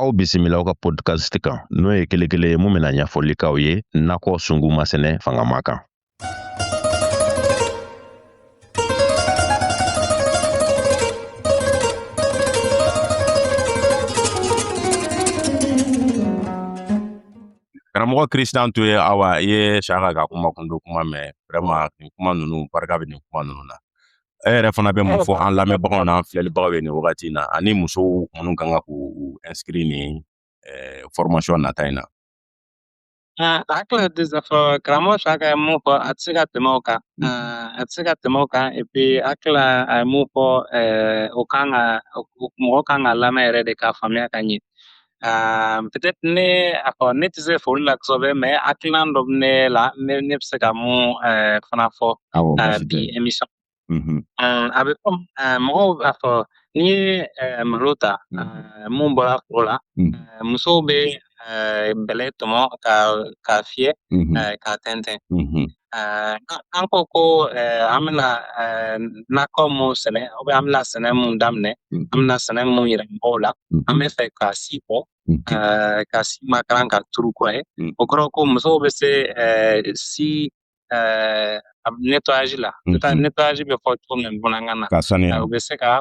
aw bisimila aw ka podcast kan n'o ye kelekele ye mun bɛna ɲɛfɔli k'aw ye nakɔ sungu masɛnɛ fangama kan karamɔgɔ Christian to ye awa i ye Saka ka kuma kundo kuma mɛn vraiment nin kuma ninnu barika bɛ nin kuma ninnu na e yɛrɛ fana bɛ mun fɔ an lamɛnbagaw n'an filɛlibagaw ye nin wagati in na ani musow minnu kan ka k'u inscrit nin eh, formation nata in na hakili tɛ se fɔ karamɔgɔ Saka ye mun fɔ a tɛ se ka tɛmɛ o kan a tɛ se ka tɛmɛ o kan et puis hakili la a ye mun fɔ o kan ka mɔgɔ kan k'a lamɛn yɛrɛ de k'a faamuya ka ɲɛ peut-être ne a fɔ ne tɛ se fɔli la kosɛbɛ mais hakilina dɔ bɛ ne la ne ne bɛ se ka mun fana fɔ bi émission mm-hmm. a bɛ fɔ mɔgɔw b'a fɔ n'i ye malo ta mm-hmm. mun bɔra foro la mm. musow bɛ bɛlɛ tɔmɔ ka k'a fiyɛ mm-hmm. k'a tɛntɛn Ɛɛ an ko ko an bɛna nakɔ mun sɛnɛ ou bien an bɛna sɛnɛ mun daminɛ an bɛna sɛnɛ mun yira mɔgɔw la an bɛ fɛ ka si bɔ ka si makaran k'a turu kɔ ye o kɔrɔ ko musow bɛ se si nettoyage la nettoyage bɛ fɔ cogo min bamanankan na k'a saniya u bɛ se ka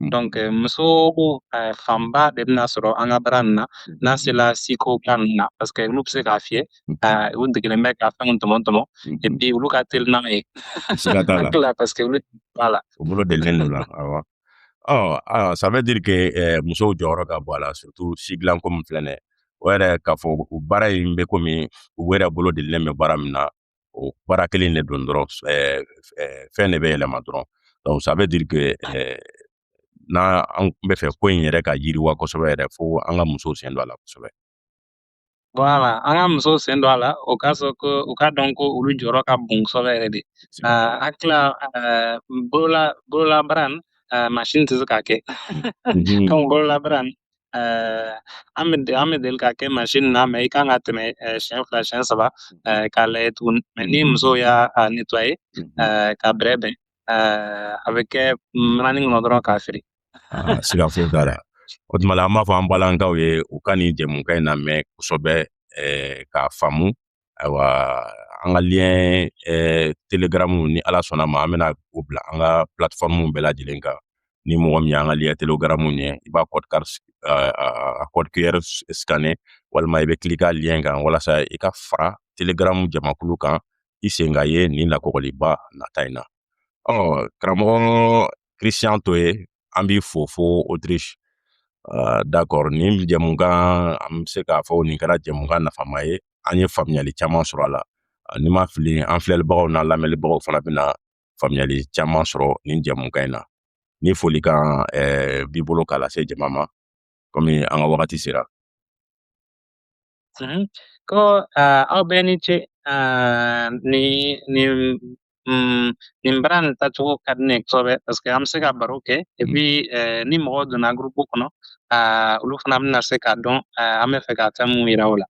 Donc eh, muso eh, fanba de bɛna sɔrɔ an ka baara nin na n'a sela siko ba ninnu na parce que olu bɛ se k'a fiyɛ eh, u degelen bɛ ka fɛnw tɔmɔ tɔmɔ et puis olu ka teli n'an ye siga t'a la tila parce que olu b'a la u bolo delilen don a la awɔ ɔ ah, ça veut dire que eh, musow jɔyɔrɔ ka bon a la surtout si dilan ko min filɛ nin ye o yɛrɛ k'a fɔ u baara in bɛ komi u yɛrɛ bolo delilen bɛ baara min na o baara kelen de don dɔrɔn fɛn de bɛ yɛlɛma dɔrɔn donc ça veut dire que n'an bɛ fɛ ko in yɛrɛ ka yiriwa kosɛbɛ yɛrɛ fo an ka musow sen don a la kosɛbɛ Voilà, an ka musow sen don a la o k'a sɔrɔ ko u k'a dɔn ko olu jɔyɔrɔ ka bon kosɛbɛ yɛrɛ de ah, hakili ah, la bolola bololabaara nin ah, mansin tɛ se k'a kɛ donc bololabaara nin an bɛ an bɛ deli k'a kɛ mansin na mais i kan ka tɛmɛ siɲɛ fila siɲɛ saba k'a lajɛ tuguni mais ni muso y'a nettoyer k'a bɛrɛbɛn a bɛ kɛ mananin kɔnɔ dɔrɔn k'a feere siga foyi t'a la o tuma la an b'a fɔ an balankaw ye u ka nin jɛmukan in lamɛn kosɛbɛ k'a faamu ayiwa an ka lien eh, Telegram ni ala sɔnna ma an bɛna o bila an ka plateforme bɛɛ lajɛlen kan ni mɔgɔ min y'an ka lien Telegram ye i b'a code QR a code QR scanner walima i bɛ cliquer lien kan walasa i ka fara Telegram jamakulu kan i sen ka ye nin lakɔgɔliba nata in na ɔ karamɔgɔ christian toye an b'i fo fo autriche uh, d'accord nin jɛmukan an bɛ se k'a fɔ nin kɛra jɛmukan nafama ye an ye faamuyali caman sɔrɔ a la uh, ni n ma fili an filɛlibagaw n'an lamɛnlibagaw fana bɛna faamuyali caman sɔrɔ nin jɛmukan in na ni folikan eh, b'i bolo k'a lase jama ma komi an ka wagati sera Mhm. Ko uh, aw bɛɛ ni ce uh, nin nin mm, nin baara nin tacogo ka di ne kosɛbɛ paske an bɛ se ka baro kɛ epi uh, ni mɔgɔw donna gurupu kɔnɔ uh, olu fana bɛna se k'a dɔn uh, an bɛ fɛ ka fɛn mun yira u la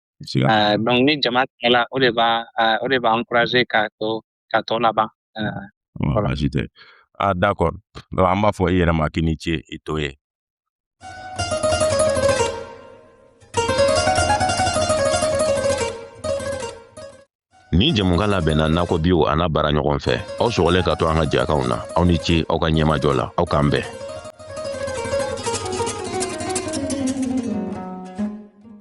uh, donc ni jama cayala o de b'a uh, o de b'a encourager k'a to k'a tɔ laban baasi tɛ ah d'accord donc an b'a fɔ i yɛrɛ ma k'i ni ce i toye Nin jɛmukan labɛnna nakɔ biw a n'a baaraɲɔgɔn fɛ aw sɔgɔlen ka to an ka jɛkanw na aw ni ce aw ka ɲɛmajɔ la aw k'an bɛn